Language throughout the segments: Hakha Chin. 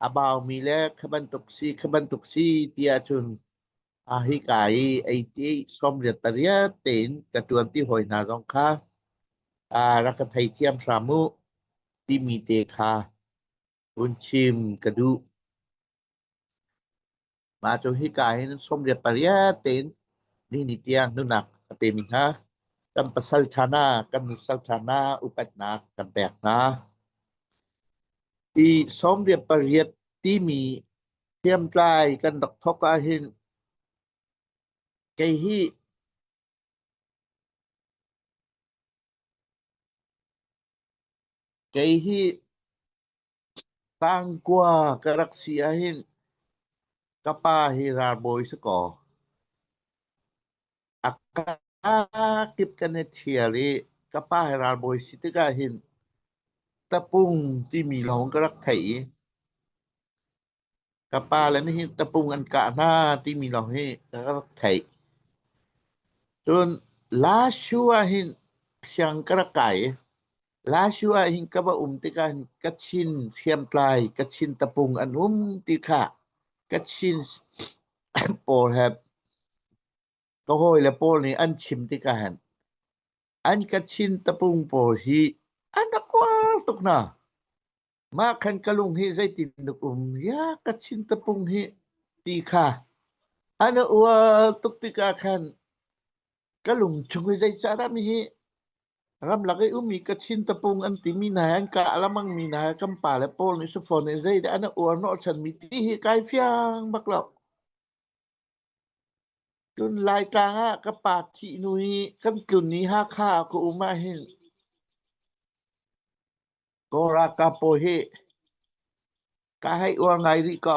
A baumi le kha bantuk si kha bantuk si ti ahcun a hika i ei ti sawmriat pariat tein ka ṭuanpi hawi hna zong kha aa rak ka theithiam hram u timi te kha Mah hika hin sawmriat pariat tein nihin tiang nunak a pemi hna kan pasal ṭha hna, kan nusal ṭha hna upatnak kan pek hna. Hi sawmriat pariat timi hriamtlai kan rak thawk ahhin kei hi Kei hi Tangkua ka rak si ahhin ka pa hi ralbawi si kaw a kakip kan i ṭhial i ka pa hi ralbawi si tikah hin tapung timi lawng ka rak theih i Ka pa le nih hi tapung an kah hna timi lawng hi ka rak theih. Cun Lashu ahhin siang ka rak kai i Lashu ahhin ka va um tikah hin Kachin hriamtlai, Kachin tapung an um ti kha Kachin pawl he ka hawile pawl nih an chim tikah hin an Kachin tapung pawl hi an rak kual tuk hna. mah khan ka lung hi zeitin tuk um ya ka chin tapung hi ti kha an ual tuk tikah khan ka lung chung hi zei ca ram hi ramlak i umi ka chin tapung an ti mi hna an ka alamang mi hna kan pa le paul ni sufon ni zei de an uar no chan mi ti hi kai fiang bak lo Cun Laitlang ah ka pa thihhnu i kan tlun i Hakha ah ka um ahhin Kaw ralkap pawl hi kaa hei uar ngai rih ko.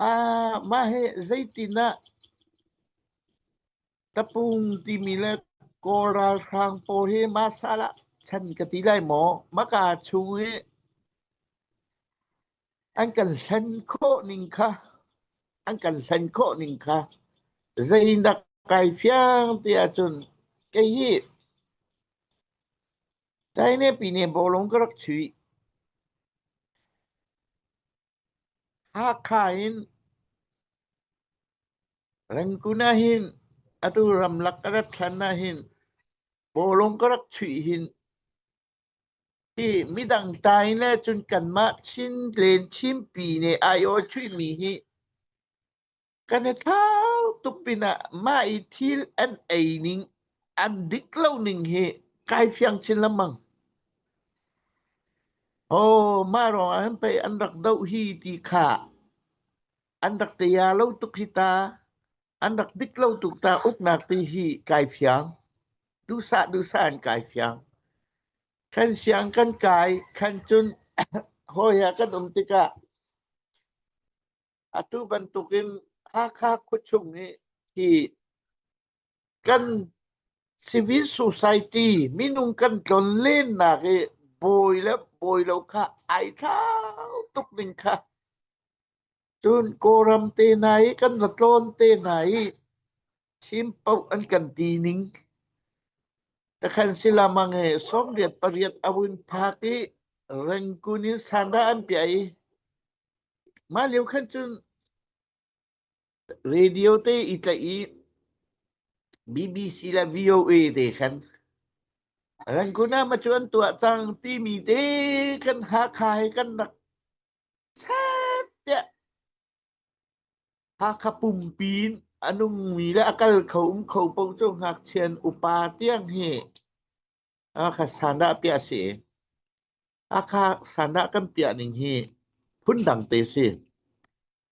Ah mah hi zeitin ah tapung timi le Kaw ralhrang pawl hi mah sal ah chan ka ti lai maw? Mah kaa chung i an kan hlen khawh ning kha an kan hlen khawh ning kha zei nak kai fiang ti ahcun kei hi China pine bolong ka rak chui Hakha in Rangkun ahin atu ramlak ka rat thlan ahin bolong ka rak chui hin Hi midang tai le cun kanmah Chin len Chinpi nih ai awchuihmi hi kan i thlau tuk pinah mah i thil an ei ning, an dik lo ning hi kai fiang chin lengmang. Oh, mah ruangah hin pei an rak doh hi ti kha an rak tia lo tuk hi ta. An rak dik lo tuk ta. Uknak ti hi kai fiang. Duhsah duhsah an kai fiang. Kan siang kan kai, kan cun hawi ah kan um tikah atu bantukin Hakha khuachung nih hi kan civil society minung kan tlon lennak i bawi le bawi lo kha ai thlau tuk ning kha Cun Kawlram te hna i kan va tlawn te hna i thim paoh an kan ti ning takhan silamang e songriat pariat a vun phak i rengkun in sanda an piah i mah lio khan cun radio te i tlaih i BBC le VOA te khan rengkun ah ma cu an tuah cang timi te kan hakha he kan rak Chat tiah Hakha pumpi in a nungmi le a kal kho um kho paoh cu ngakchian upa tiang hi Hakha sandah piah si. Hakha sandah kan piah ning hi phun dang te si.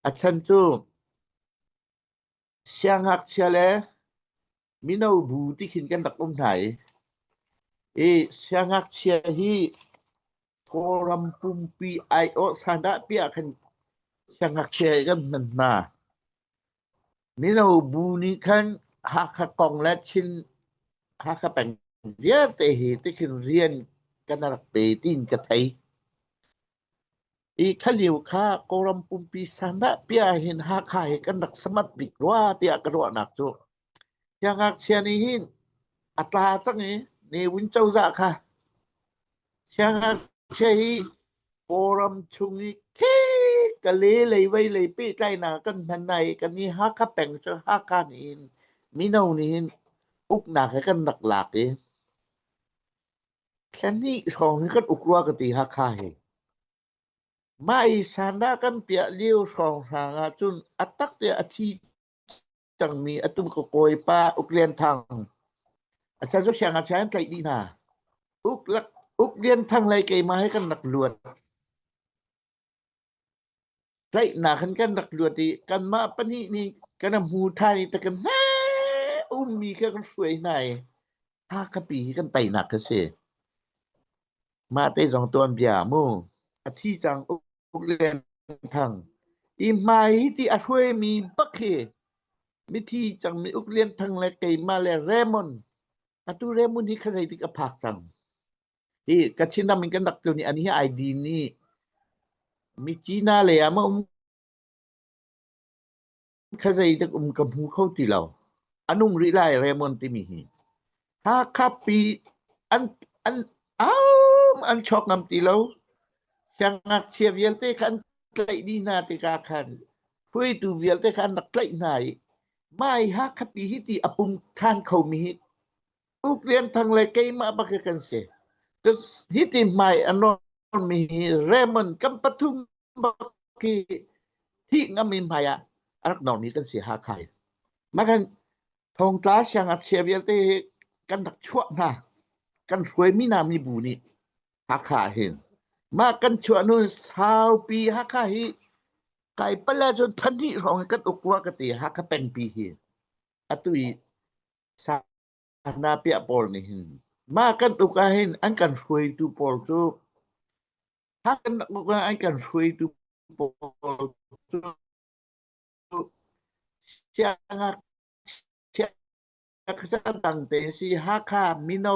A chan cu Siangngakchia le mino bu ti khin kan rak um hna i, i siangngakchia hi Kawlram pumpi aiawh sandah piah khan siangngakchia hi kan hman hna. Mino bu nih khan Hakha kong le Chin Hakha peng vialte hi ti khin rian kan rak pe tiin ka thei. I khalio kha Kawlram pumpi sanah pia hin Hakha he kan rak samat bik rua tiah ka ruahnak cu. Siangngakchia nih hin a tla cang i Newin cozah kha siangngakchia hi Kawlram chung i khek ka le lei vei lei pehtlainak kan hman hna i kan i Hakha peng cu Hakha nih hin mino nih hin uknak he kan rak lak i Thla hnih hrawng hi kan uk rua ka ti Hakha hi. Mah i sandah kan piah lio hrawng hrang ahcun a tak tiah a thi cangmi a tum ka kawi pa Uk Lian Thang. A chan cu siangngakchia an tlaih dih hna. Uk, lak, Uk Lian Thang lei keimah hi kan rak luat. Tlaihnak in kan rak luat i kanmah pahnih nih kan a hmu tthan i ta kan heh ummi kha kan hruai hna i Hakhapi hi kan teinak kha si. Mah te zong tuan bia a mu. A thi cang Uk Uk Lian Thang. Hi hmai hi ti a hruaimi bak hi mithi cang mi Uk Lian Thang le keimah le Raymond. Atu Raymond hi kha zeitik a phak cang. Hi ka Chinram in kan rak tlun i ani hi ID nih mi Cina lei ah mah um kha zeidak um ka hmu kho ti lo. An um rih lai Raymond timi hi. Hakha pi an an am an chok ngam ti lo. Siangngakchia vialte kha an tlaih dih hna tika khan hruaitu vialte kha an rak tlaih hna i mai Hakha pi hi ti a pum than kho mi hi Uk Lian Thang le keimah bak kan si. Hi ti hmai a mi Raymond kan pathum bak hi thi ngami hmai ah arak normi kan si ha khai. Makan thongtla siang at chia vialte kan rak chuah hna kan hruai mi na mi bu ni hakha hin ma kan chuah nu saupi hakha hi kai pala chun than hi rong kan ukwa ka te hakha pengpi hi atu i Sanghnapia pawl nih hin mah kan uk ahhin an kan hruaitu pawl cu mah kan uk ah an kan hruaitu pawl cu siangakchia khuacaan tangte in si Hakha mino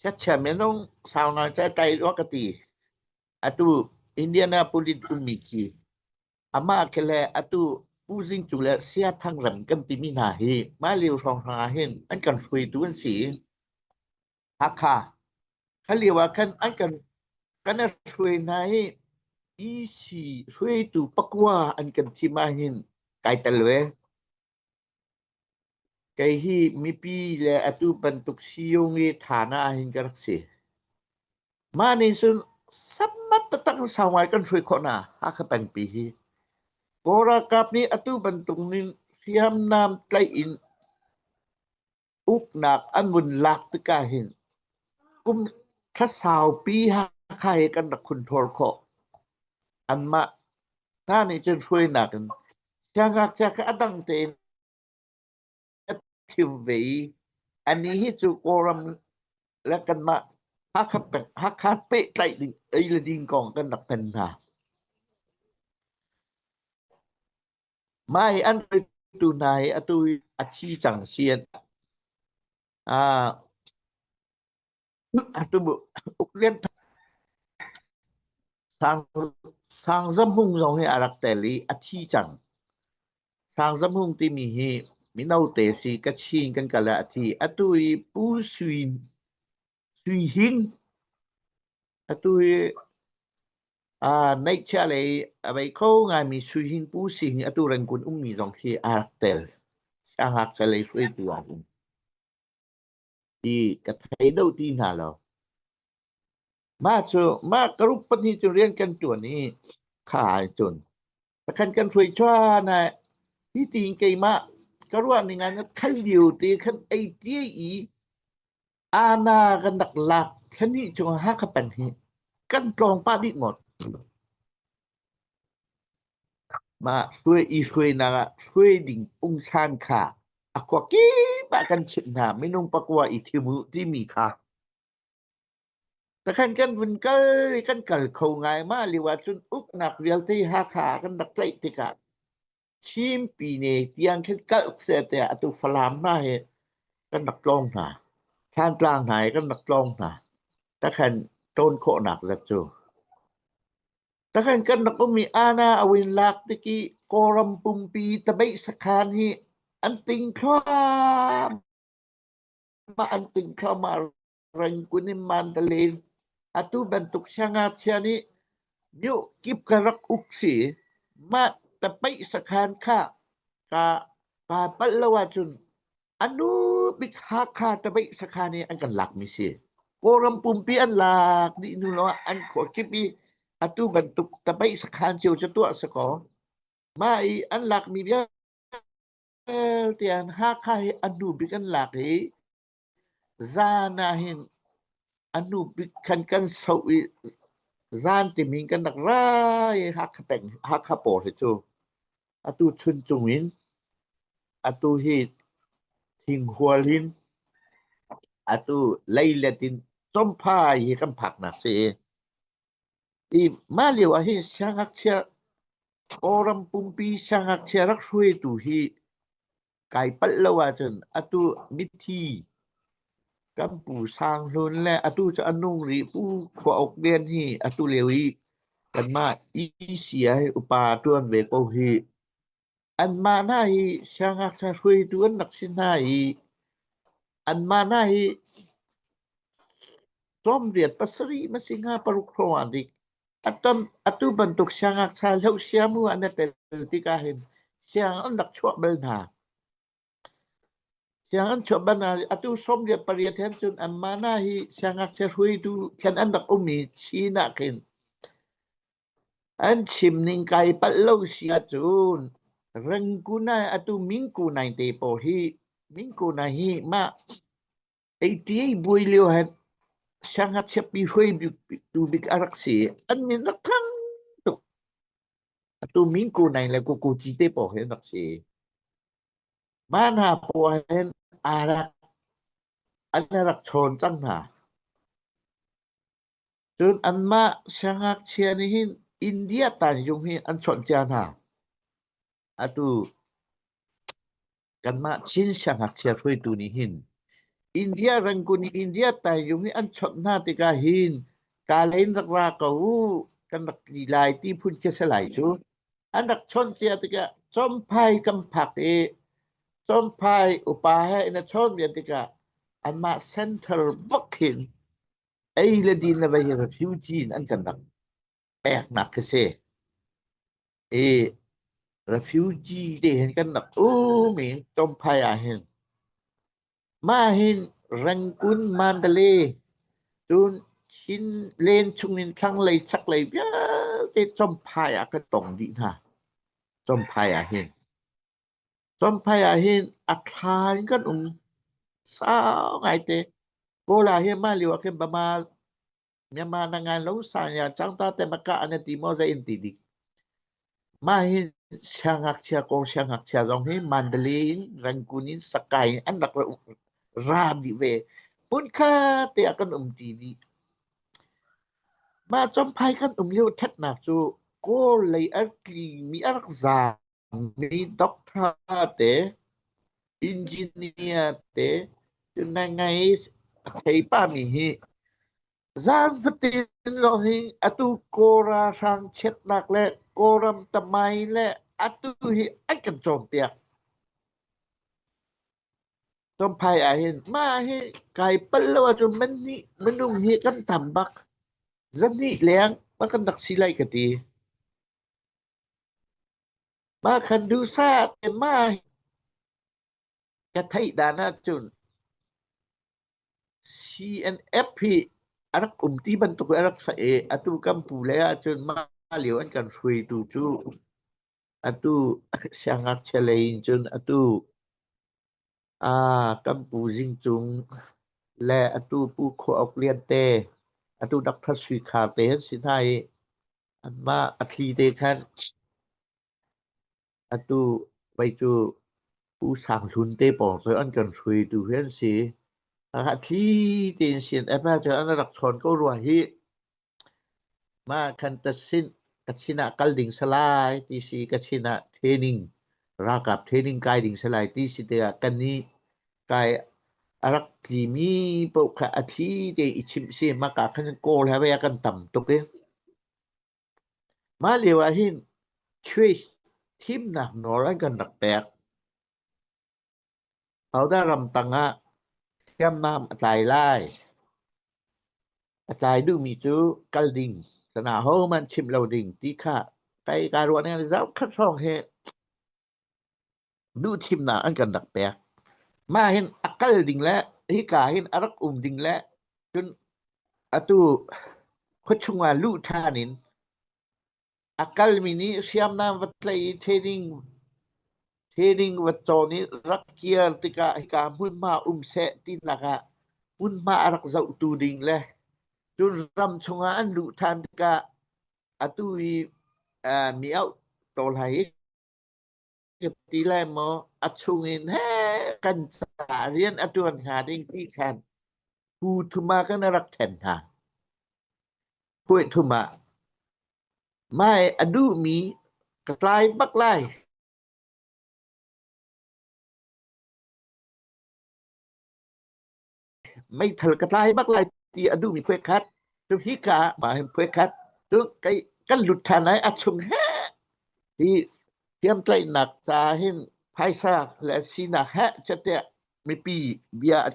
Chiatchia minung sau ngai cu a tlai rua ka ti. Atu Indianapolis ummi khi amah khi le atu Pu Zing cu le Saya Thang Rem kan timi hna hi mah lio hrawng hrang ah hin an kan hruaitu an si i Hakha kha lio ah khan an kan kan a hruai hna i EC hruaitu pakua an kan thim ah hin kai tel ve. Kei hi mipi le atu bantuk Siyung-i thana ahhin ka rak si. Mah nih cun sammat taktak in sau ngai kan hruai khawh hna Hakha pengpi hi. Kawl ralkap nih atu bantuk in hriamnam tlaih in Uknak a ngun lak tikah hin kum thla saupi Hakha he kan rak hun ṭhawl khawh. Anmah hna nih cun hruainak in siangngakchia kha a dang tein a ṭhium ve i a ni hi cu Kawlram le kanmah Hakha, peng- Hakha pehtlaih ding, ei le ding kong kan rak hman hna. Mah hi an hruaitu hna hi atu a thi cang si an ah atu uk lian Sang Sang Zam Hung zong hi a rak tel i a thi cang. Sang Zam Hung timi hi mino te si Kachin kan kal ah a thi. Atu i Pu Sui Sui Hing atu hi uh, neihchia lei a vei kho ngaimi Sui Hing Pu Sing hi atu Rangoon ummi zong khi aa rak tel. Siangak salei hruaitu ah hin ti ka thei do ti hna lo. Mah cu mah ka ruk pahnih cu rian kan tuan i kha ai cun. Pakhan kan hruai chuan ai hi ti in keimah ka ruah ning an khat liu te khan ei tie i Ana kan rak lak thlenhnih chung ah Hakha peng hi kan tlawng pah dih ngawt. Mah hruai i hruainak ah hruai ding ungsan kha a kua kip ah kan chimh hna minung pakua i thim u timi kha. Takhan kan vun kal i kan kal kho ngai ma liu ahcun uknak vialte Hakha kan rak tlaih tikah Chinpine tiang khin kalh seh tiah atu Falam hna hi kan rak tlawng hna. Thantlang hna hi kan rak tlawng hna. Takhan tawn khawhnak zat cu. Takhan kan rak um i ana awin lak tiki Kawram pumpi tabeih sakhan hi an ting thluam ma an ting thluamah Rengkun in mandalin. Atu bantuk siangngakchia nih myuh kip ka rak uk si. Mah tapaih sakhan kha ka kaa palh lo ahcun anu bik Hakha tapaih sakhan i an kan lakmi si. Kawlram pumpi an lak dih hnu lawngah an khuakip i atu bantuk tapaih sakhan cio cu tuah sakaw. Mah i an lakmi vialte an Hakha hi anu bik an lak i Zaan ah hin a hnu bik khan kan soh i zaan timi in kan rak ra i Hakha peng Hakha pawr hi cu atu chun cung in atu hi thinghual hin atu leilet in chomphai hi kan phaknak si i i mah lio ah hin siangngakchia Kawlram pumpi siangngakchia rak hruaitu hi kai palh lo ahcun atu mithi kan pu Sang Hlun le atu cu a nung rih pu khua uk vian hi atu leo i kanmah ECI upa tuan ve ko hi anmah hna hi siangngakchia hruaitu an rak si hna i anmah hna hi tlawm riat pasarih ma si hnga paruk hrawng ah dik Atu bantuk siangngakchia hlohsia mu an i tel tikah hin siang an rak chuah bal hna. Siang an chuah bal hna. Atu sawmriat pariat hen cun an mana hi siangngakchia hruaitu khen an rak um i Chin ah khin an chim ning kai palh lo sia cun Rangunai atu Mingkunai te pawl hi Mingkunai hi mah Eiṭi buai lio hen siangngakchiapi hruaitu bik a rak si i an min rak thang tuk. Atu Min Ko Naing le Ko Ko Ci te pawng hi an rak si. Mah hna poah hen aa rak an i rak ṭhawn cang hna. Cun anmah siangngakchia nih hin India tanzung hi an chawnh cia hna. Atu kanmah Chin siangngakchia hruaitu nih hin India rangun i India tanzung hi an chawnh hna tikah hin kalen rak ra ko uh kan rak tli lai ti phun khi a si lai cu. An rak chawnh cia tikah Chomphai kan phak i Chomphai upa he in a chawnvian tikah anmah center bak hin Ei le din le vei hi refugee in an kan rak peknak khi si. I refugee te hin kan rak um in Tomphai ah hin mah hin Rangoon Mandalay cun Chin len chung in thlanglei chaklei vialte Tomphai ah kan tong dih hna. Tomphai ah hin. Chawmphei ah hin a thla in kan um sau ngaite. Kawl ah hin mah lio ah khin Bama Myanmar na ngan lo san ya cang ta te maka an i ti maw zei in ti dik. Mah hi siangngakchia kong siangngakchia zong hi Mandalay in Rangoon in Sakae in an rak ra dih ve. Hmun khat te ah kan um ti dih. Mah Chawmphei kan um lio ṭhatnak cu Kawl lei a tlingmi a rak za Mi doctor te, engineer te nai a thei pa mi hi zan fatin lawng hi atu Kawra hrang chiatnak le Kawram tamai le atu hi an kan cawnpiak. Tompai ahhin mah hi kai pal lo ahcun man nih minung hi kan tam bak. Zan hnih leng ma kan rak si lai ka ti. Mah khan duhsah te mah ka theih dan ahcun CNF hi a rak um ti bantuk in a rak sah i atu kan pu lei ahcun mah lio an kan hruaitu cu atu siangngakchia lei in cun atu Ah, kan pu Zing Cung le atu Pu Khua Uk Lian te, atu Dr. Sui Khar te an si hna i anmah a thli te khan atu vei cu Pu Sang Hlun te pawng cu an kan hruaitu hi an si. A thli tein sin ep ah cun an rak chawn ko rua hih. Mah khan ka sin ah kal ding salai ti si ka sin ah training ralkap training kai ding salai ti si tikah ka nih kai a rak tli mi paoh kha a thli te i chimh si mah ka khan kawl he a kan tam tuk i mah lio ah hin church thimnak nawl an kan rak pek Pauda ram tangah hriamnam a tlai lai. A tlai duhmi cu kal ding, sanah hohmanh chimh lo ding ti kha kai kaa ruah ning ah zaukhat hrawng he duhthimnak an kan rak pek. Mah hin a kal ding le hika hin a rak um ding le cun atu khuachung ah luh ṭhan in A kalmi nih hriamnam va tlaih i theding va cawn i rak kir tikah hika hmunhma um seh tinak ah hmunhma a rak zohtu ding le cun ram chungah an luh ṭhan tikah atu i mi auh ko lai i ka ti lai maw a chung in he kan ca rian a ṭuan hnga ding ti khan pu thuma kan rak ṭhen hna puai thuma mai a duhmi ka tlai bak lai meithal ka tlai bak lai ti a duhmi phuai khat cu hi ka ma hin phuai khat cu kai kan lut ṭhan lai a chung he hi thiamtlaihnak ca hin phaisa le sinak he chate mipi bia a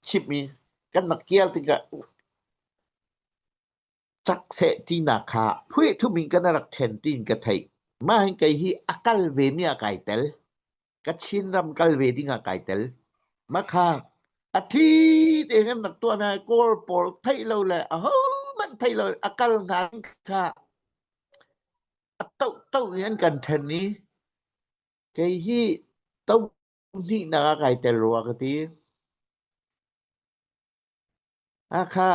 chimmi kan mak kial tikah cak seh tinak kha phuihthup in kan rak then tiin ka theih. Mah hin kei hi a kal vemi ah kai tel. Ka Chin ram kal ve ding ah kai tel. Ma kha a thi te kan rak tuan hai kor por thei lo le a ho man thei lo a kal nga kha a tau tau in kan then i kei hi to Pahnihnak ah kai tel rua ka ti. Hakha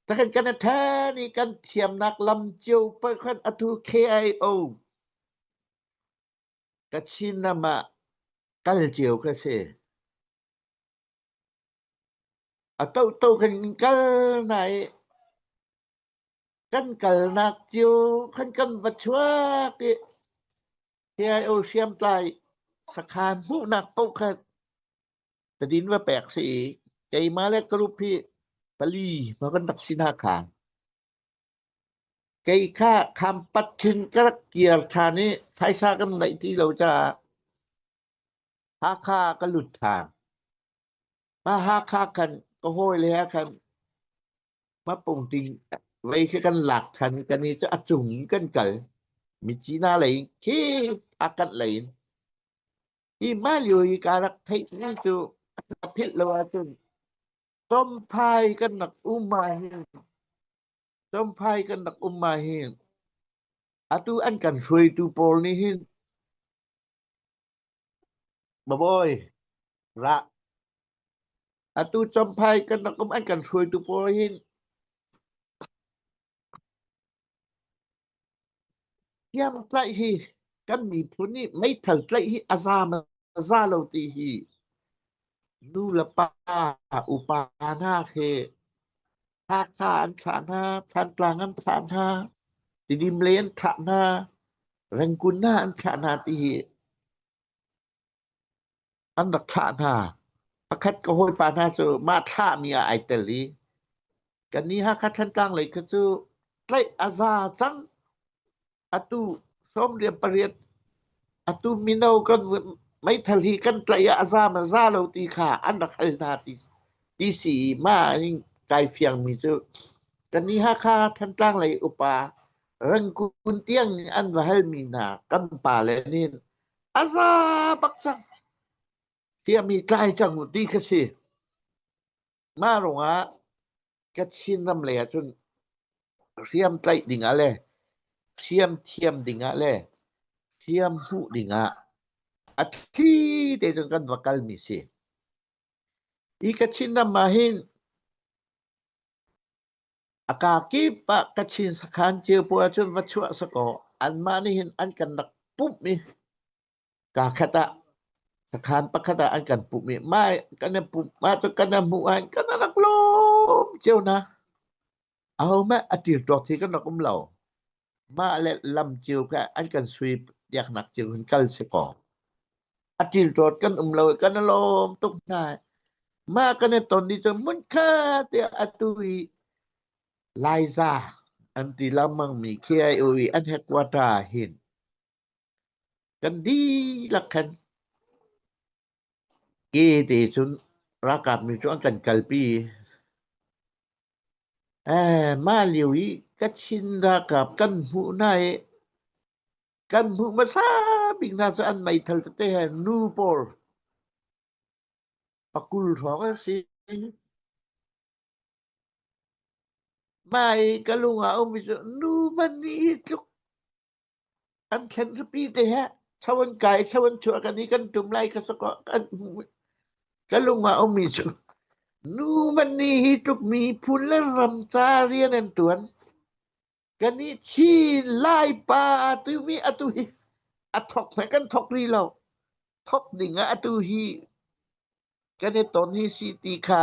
ta kan kan ṭha ni kan thiamnak lam cio pakhat atu KIO Kachinam ah kal cio ka si. A tohto kan in kal na i Kan kalnak cio kan kan va chuak i Thiai Aw hriamtlai sakhaan hmuhnak kokhat tadin va pek si i keimah le group hi pali ma kan rak si nakhnga kei kha khampat khin ka rak kiar ṭhan i phaisa kan neih ti lo caah Hakha ka lut ṭhan. Mah Hakha khan ka hawi le he khan Mapung ting lei khi kan lak than kan i cu a cung in kan kal mi Cina lei khi a kat lei in hi mah lio i ka rak theih mi cu ka philh lo ahcun Chomphai kan rak um ahhin Chomphai kan rak um ahhin atu an kan hruaitu pawl nih hin Babawi, ra. Atu Champhai kan rakam an kan hruaitu pawl hin tiang tlaih hi kan miphun nih meithal tlaih hi a za ma za lo ti hi nu le pa, upa hna he Hakha an thlah hna, Thantlang an thlah hna, Tidim lei an thlah hna, Rengkun hna an thlah hna ti hi an rak thlah hna. Pakhat ka hawipa hna cu mah thlahmi ah ai tel i kannih Hakha Thantlang lei kha cu tlaih a za cang atu sawmriat pariat atu mino kan meithal hi kan tlaih ah a zaam a za lo ti kha an rak hal hna ti ti si ma in kai fiang mi cu kan ni Hakha Thantlang lei upa rangkun tiang an va hal mi hna kan pa le nin a za bak cang fia mi tlai cang ti ka si Mah ruangah Kachin ram lei ah cun hriam tlaih ding ah le hriam thiam ding ah le hriam hmuh ding ah a thli te cun kan va kal mi si. Hi Kachin ram ah hin a ka kip ah Kachin sakhan cio puai cun va chuah sakaw anmah nih hin an kan rak pumh i Kaa khat ah, ka khaan pakhat ah an kan pumh i mai kan in pumh, mah cu kan in hmuh ahhin kan rak lawm cio na. Ahohmanh a ṭilṭuak thi kan rak um lo. Mah le lam cio kha an kan sui piaknak cio hin kal si kaw, a ṭilṭuat kan um lo i kan i lawm tuk hna. Mah kan i ton ni cu hmun kha tiah atu i Laiza an ti lengmangmi khi ai u i an headquarter ah hin Kan dihlak khan ke te cun ralkap nih cun an kan kalpi. Eh, mah lio i Kachin ralkap kan hmuh hna i kan hmuh hmasa bik hna cu an meithal tete he nu pawl pakul hrawng an si. Mah i ka lung ah a ummi cu nu man nih hi tluk An thlen zapi te he cho an kai cho an chuah kan i kan tum lai ka sako kan ka lung a ummi cu nu man ni hi tluk mi phun le ram ca rian an tuan kan i thi lai pa tu mi atu hi a thok hme kan thok rih lo thok ding ah atu hi kan i ton hi si ti kha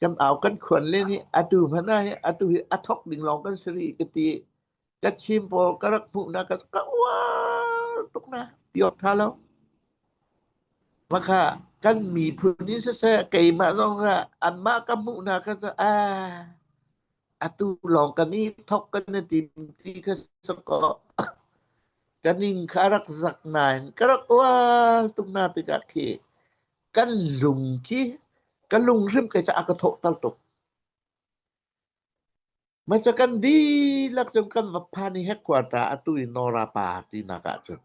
kan au kan khuan le nih atu hmanh ah hi atu hi a thok ding lawng kan si rih ka ti ka chim pawl ka rak hmuh na ka ka uar tuk na piot tha lo maka kan miphun ni siseh keimah zong ah anmah ka hmuh na ka sa a atu lawng kan i thok kan na tim ti ka sa ko kaning ka rak zak nain ka rak uar tuk na tikah khi kan lung khi ka lung hrim kai ca a ka thawhter tuk ma ca kan dihlak cun kan va phan i headquarter atu i nora pa ti nak ah cun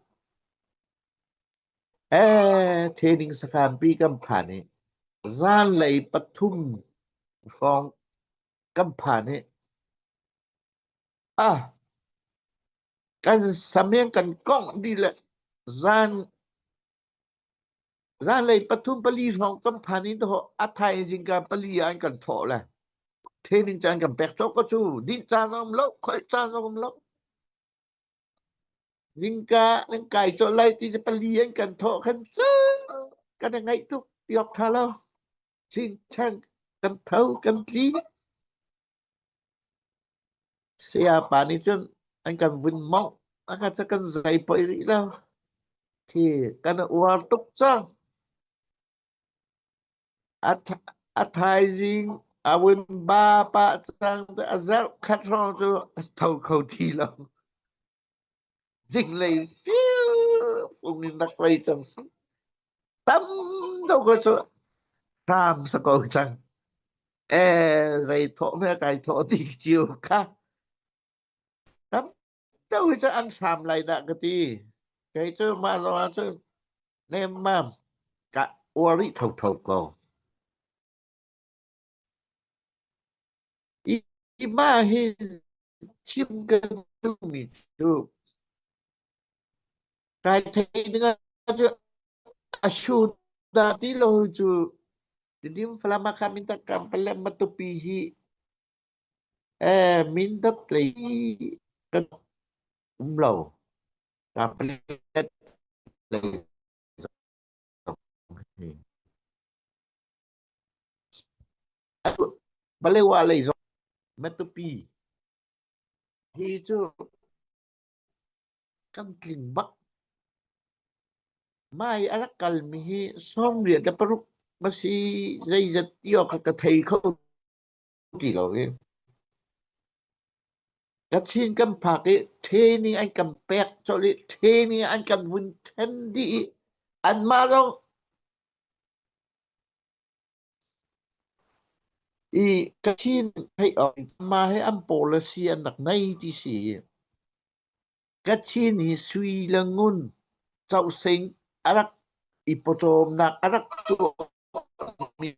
eh training sakhan pi kan phan i zan lei pathum hrawng kan phan i ah kan sameng kan kongh di le zan Zanlei pathum pali hrawng kan phan i dawh a thaizing ka pali ah an kan thawh le training caan kan pek cawk ko cu dinh caan a um lo khoih caan a um lo zingka nan kai cawh lai ti cu pali an kan thawh khan cu kan i ngaih tuk tiawk tha lo chingchang kan tho kan tli Sayapa nih cun an kan vun mawngh. A ka cu kan zei poi rih lo. Khi kan uar tuk cang. A, a thaizing a vun ba pah cang. A zerh khat hrawng cu a tho kho ti lo. zinglei firfung in rak lei cang si tam deuh ko cu hram sa ko cang e zei thawh me kai thawh ti chiu kha tam deuh cu an hram lai da ka ti kei cu ma lo cu nem mam ka uari tho tho ko Hi mah hi thil kan duhmi cu kai thei dingah cu a shu dah ti lo cu tidim falam ah khan min tak kam palem matupi hi eh min dap tlei kan um lo kam palet tlei zong hi. Palewa lei zong Matupi hi cu kan tling bak. Mah i a rak kalmi hi sawm riat le paruk a si. Zeizat ti awk ah ka thei kho ti lo i Kachin kan phak i ṭhe nih an kan pek colh i ṭhe nih an kan vun ṭhen dih i anmah zong i Kachin theih awk ma he an policy an rak nei ti si. Kachin hi sui le ngun causing a rak i pawcawmnak a rak tuahmi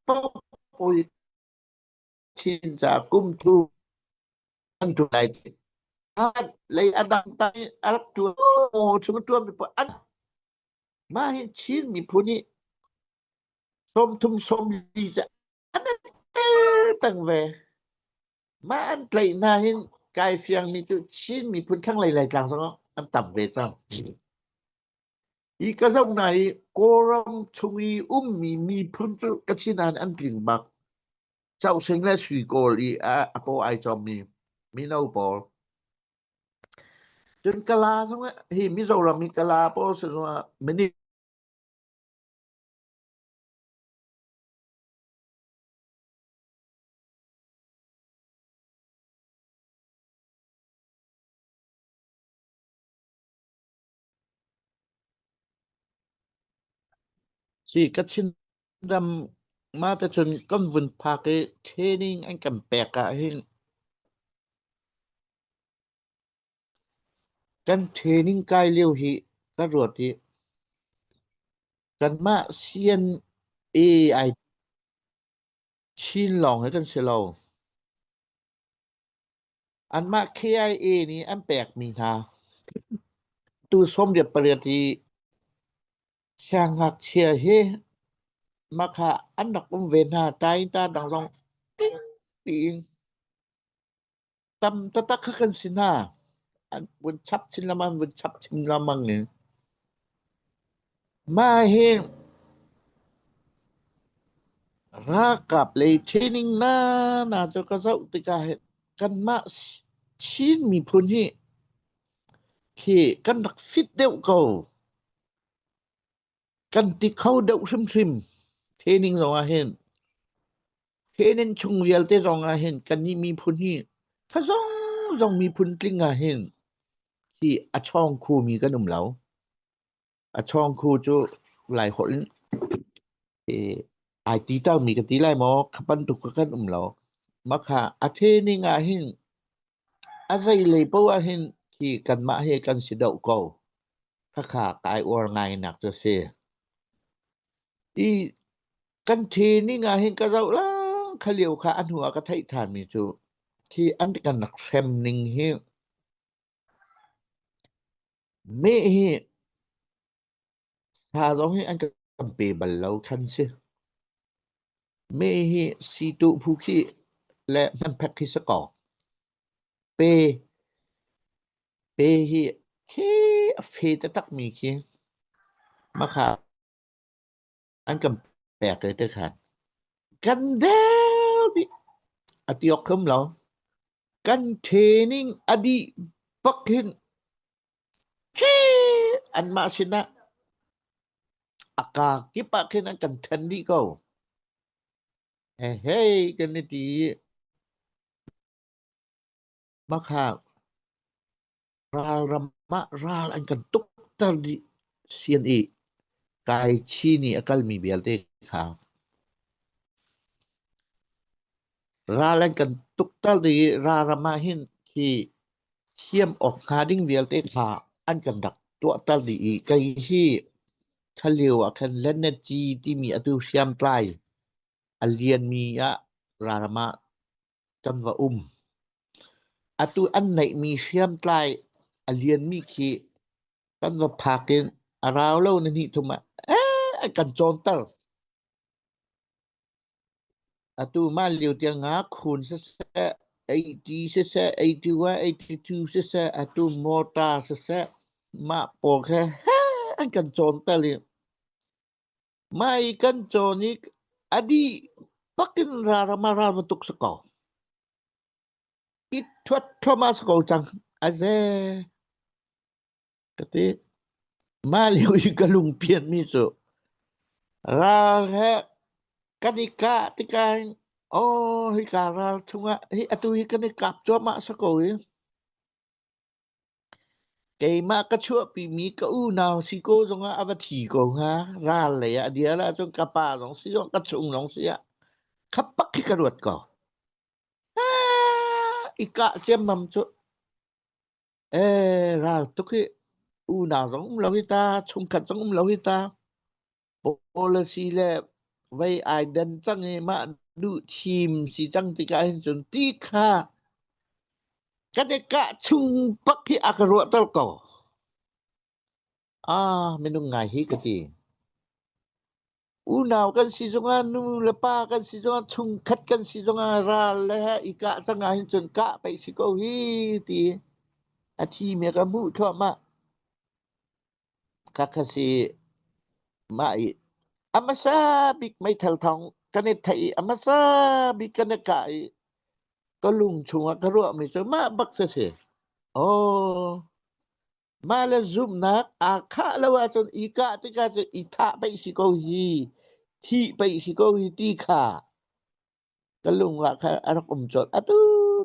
Popui Chinca kum thu an ṭu lai ti. An lei a dang ta i a rak ṭuan aw chung ṭuan mi pa an mah hi Chin miphun i som thum som li ca an tang ve. Mah an tlaih hna hin kai fiang mi cu Chin miphun thlanglei Laitlang zong an tam ve cang. Hi ka zoh hna i Kawlram chung i ummi miphun cu ka sinan an tling bak. Causing le suikawl i a, a paw ai cawmmi mino pawl. Cun Kala zong ah, hi Mizoram i Kala pawl si zongah minit Si ka Chinram ma ka chun kan vun phak i training an kan pek ah hin kan training kai lio hi ka ruat i kanmah sian AI chin lawng he kan si lo. Anmah KIA nih an pekmi hna tu sawm riat pariat i siangngakchia hi Makha an rak um ve hna. Ta in ta dang zong ting piin tam taktak kha kan si hna. An vun chap chin lengmang, an vun chap chin lengmang i Mah hi ralkap lei training nana cu ka zoh tikah kanmah Chin miphun hi khi kan rak fit deuh ko. Kan ti kho deuh hrimhrim training zong ah hin. Training chung vialte zong ah hin kannih miphun hi kha zong zong miphun tling ah hin hi a ṭhawng khomi kan um lo. A chawngkhu cu Laiholh i ai ti termi ka ti lai maw? Kha bantuk kha kan um lo. Makha a training ah hin a zeilei poh ah hin hi kanmah hi kan si deuh ko. Khakha ka ai uar ngainak cu si. I kan training ah hin ka zoh lang kha lio kha a hnu ah ka theih thanmi cu khi an kan rak hrem ning hi Meh hi hla zong hi an kan pe bal lo khan si. Meh hi siituh phu khi le hmanphek khi si kaw pe, pe hi he a fe taktakmi khi makha an kan pek te te khan kan deu nih a tiok khum lo kan training a dih bak hin an mah sinah a ka kip ah khin an kan then dih ko he he kan i ti Bakha ralram ah ral an kan tukter dih sian i Kai Chi nih a kalmi vialte kha ral an kan tukter dih i ralram ah hin khi thiam awk hnga ding vialte kha an kan rak tuahter dih i kei hi khalio ah khan Lennaci timi atu hriamtlai a lianmi ah ralram ah Kan va um. Atu an neihmi hriamtlai a lianmi khi kan va phak in a rau lo na hnih thum ah eh kan cawnter. Atu mah lio tiang ah khun siseh, AT siseh, AT1, AT2 siseh, atu motor siseh, mah pawl he an kan cawnter i Mai kan cawn i a dih pakin ralram ah ralman tuk si ko. I thuat thuam a si ko cang. A ze. Ka ti. Mah lio i ka lungpian mi cu. Ral he kan i ka tikain. Oh, hi ka ral chungah hi atu hi kan i kap cuahmah si ko i. Keimah ka chuahpimi ka unau si ko zongah a va thi ko hnga. Ral lei ah a dial ahcun ka pa zong si zong ka chung zong si ah khapak khi ka ruat ko. Ah, I kah ciammam cu. Eh, ral tuk hi unau zong um lo hi ta, chungkhat zong um lo hi ta. policy le vei ai den cang i mah duh thim si cang tikah hin cun ti kha kan i kah chung pak hi a ka ruahter ko ah minung ngai hi ka ti unau kan si zongah nu le pa kan si zongah chung khat kan si zongah ral le he i kah cangah hin cun kah pei si ko hi ti a thi me ka hmuh thluahmah Ka kha si mah i a hmasa bik meithal thawng kan i theih i a hmasa bik kan i kah i ka lung chungah ka ruahmi cu mah bak si si. Aw, mah le zumhnak aa khah lo ahcun i kah tikah cun i thah pei si ko hi, thih pei si ko hi ti kha Ka lung ah khan a rak um colh. A tu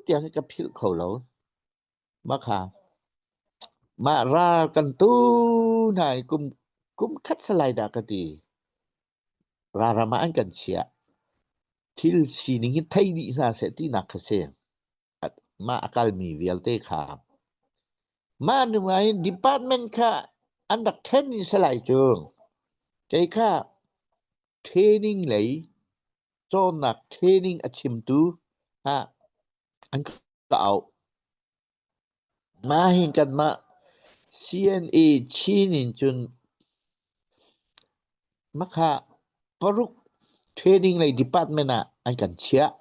tiang hi ka philh kho lo. Mah kha, mah ral kan tu hna i kum, kum khat salai dah ka ti. Raram ah an kan chiah. Thil sining hi thei dih hna seh tinak kha si. Mah a kalmi vialte kha. Mah nu ah hin department kha an rak ṭhen i salai cu. Kei kha training lei Cawnnak training a chimtu hna an ka auh. Mah hin kanmah CNA Chin in cun makha paruk training lei department ah an kan chiah.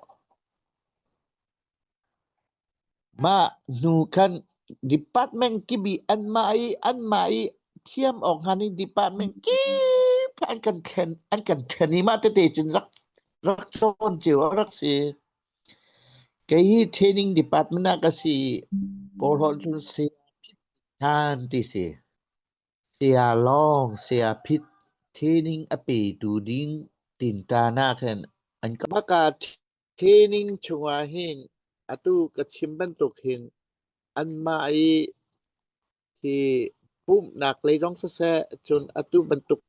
Mah hnu khan department kip i anmah i anmah i thiam awk hngan in department kip kha an kan ṭhen an kan ṭhen i mah tete cun rak rak ṭhawn cio a rak si. Kei hi training department ah ka si i kawlholh cun Saya Phit Than ti si. Saya Lawng, Saya Phit training a petu ding tinṭan ah khan an ka baka Training chungah hin atu ka chim bantuk hin anmah i hi pumhnak lei zong siseh cun atu bantuk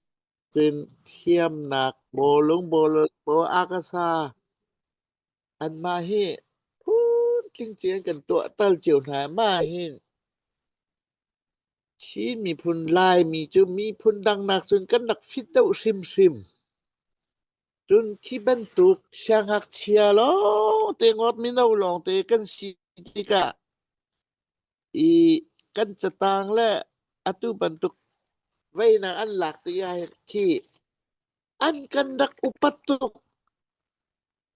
cun thiamnak bawlung bawlung baw akasa anmah hi phuntling ci an kan tuahtal cio hna. Mah hin Chin miphun Laimi cu miphun dangnak cun kan rak fit deuh hrimhrim. Cun khi bantuk siangngakchia lawngte, ngawt mino lawngte kan si tikah i kan catang le atu bantuk veinak an lak ti ahhin khi an kan rak upat tuk.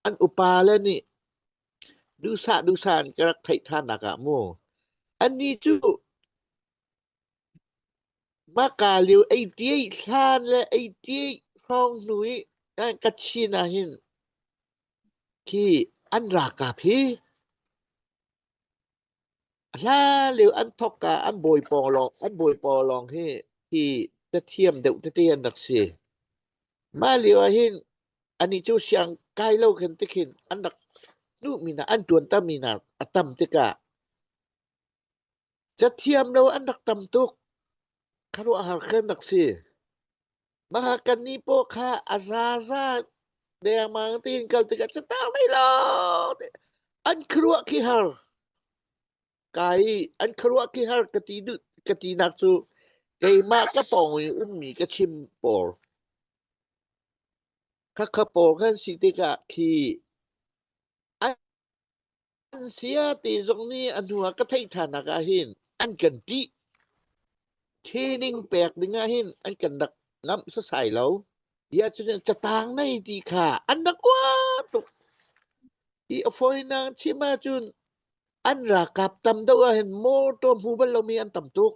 An upa le nih duhsah duhsah an ka rak theih tthannak ah mu. Annih cu Hmaka lio ei tiai hlan le ei tiai hrawng hnu i Kachin ahhin khi an ralkap hi a hlan lio an thawkka an bawi pawng lawng hi hi cathiam deuh tete an rak si. Mah lio ahhin anih cu siang kai lo khin tikhin an rak hnuhmi hna, an ṭuantermi hna a tam tikah Cathiam lo an rak tam tuk. Khuaruahhar kan rak si. Mahakkan ni paw kha a zaza dengmang tiin kal tikah ca tang nei lo. An khuaruah khi har. Kai an khuaruah khi har ka ti du ka ti nak cu keimah ka pawng i ummi ka chim pawl. Khakha pawl kan si tikah khi An saya te zong nih a hnu ah ka theih tthanak ahhin an kan ttih. Training pek ding ahhin an kan rak ngamh sasai lo. Bia cu nih catang nei ti kha an rak uat tuk. I a fawinak chim ahcun an ralkap tam deuh ahhin motor hmu bal lomi an tam tuk.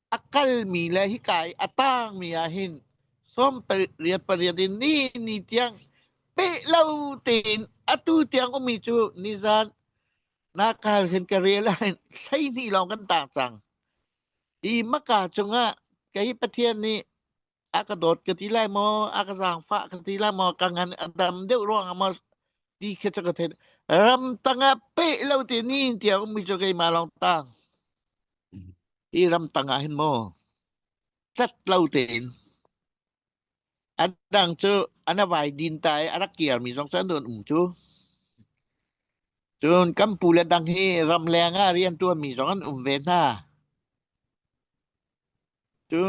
a kalmi le hika i a tangmi ah hin sawm pariat pariat in ni ni tiang peh lo tein atu tiang ummi cu nizan nakal hin ka realize hleihnih lawng kan tang cang i maka cungah kei Pathian nih a ka dawt ka ti lai maw a ka zaangfah ka ti lai maw ka ngan a dam deuh ruangah maw ti kha ca ka thein ram tangah peh lo te ni tiah mi cu keimah lawng tang i ram tangah hin maw cat lo tein adang cu ana vai din ta i arak kiar mi zong cu an um cu cun kampu le dang hi ram leng ah rian tuan mi zong an um ve hna Cu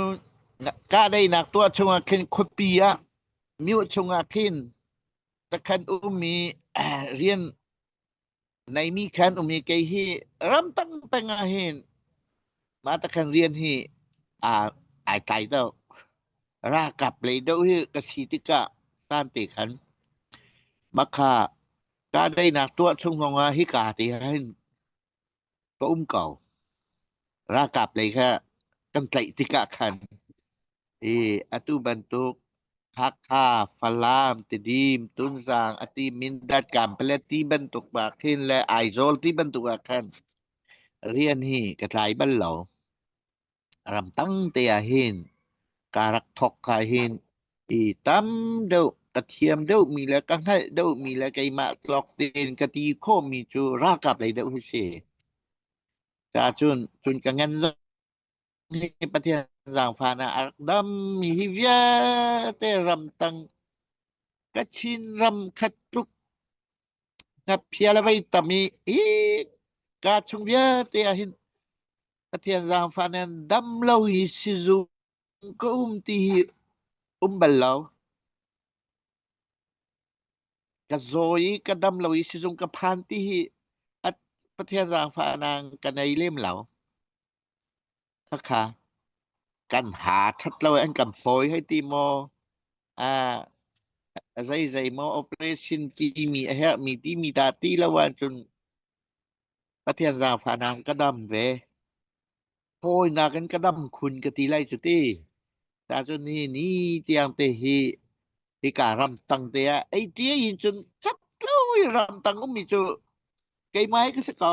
kahdoihnak tuah chungah khin khuapi ah mioh chungah khin takhan um i rian neimi khan um i kei hi ram dang pengah hin mah takhan rian hi aa ai tlai deuh. Ralkap lei deuh hi ka si tikah sante khan mah kha kahdoihnak tuah chung zongah hika te ah hin ka um ko ralkap lei kha kan tlaih tikah khan i atu bantuk Hakha, Falam, Tedim, Tunzang, ati Mindat, Kampala ti bantuk ah khin le Aizawl ti bantuk ah khan rian hi ka tlai bal lo. Ram tamte ahhin ka rak thawk ka hin i tam deuh ka thiam deuhmi le ka hngalh deuhmi le keimah tlawk tein ka ti khawhmi cu ralkap lei deuh hi si. Cacun cun ka ngan hi Pathian zaangfan ah a rak dammi hi vialte ram tang Kachin ram khat tluk Ngaphial a vei tam i ka chung vialte ahhin Pathian zaangfah nih an dam lo i sizung ka um ti hi um bal lo. Ka zaw i ka dam lo i sizung ka phan ti hi Pathian zaangfahnak ka nei lem lo. Hakha, kan ha ṭhat lo an kan fawi hei ti maw? Ah, zei zei maw operation timi a herhmi timi dah ti lo ahcun Pathian zaangfahnak ka dam ve. Fawinak in ka dam khun ka ti lai cu ti. Tahcun hi ni tiang te hi hika ramtang te ah ei tia in cun cat lo i ramtang ummi cu keimah ka si ko.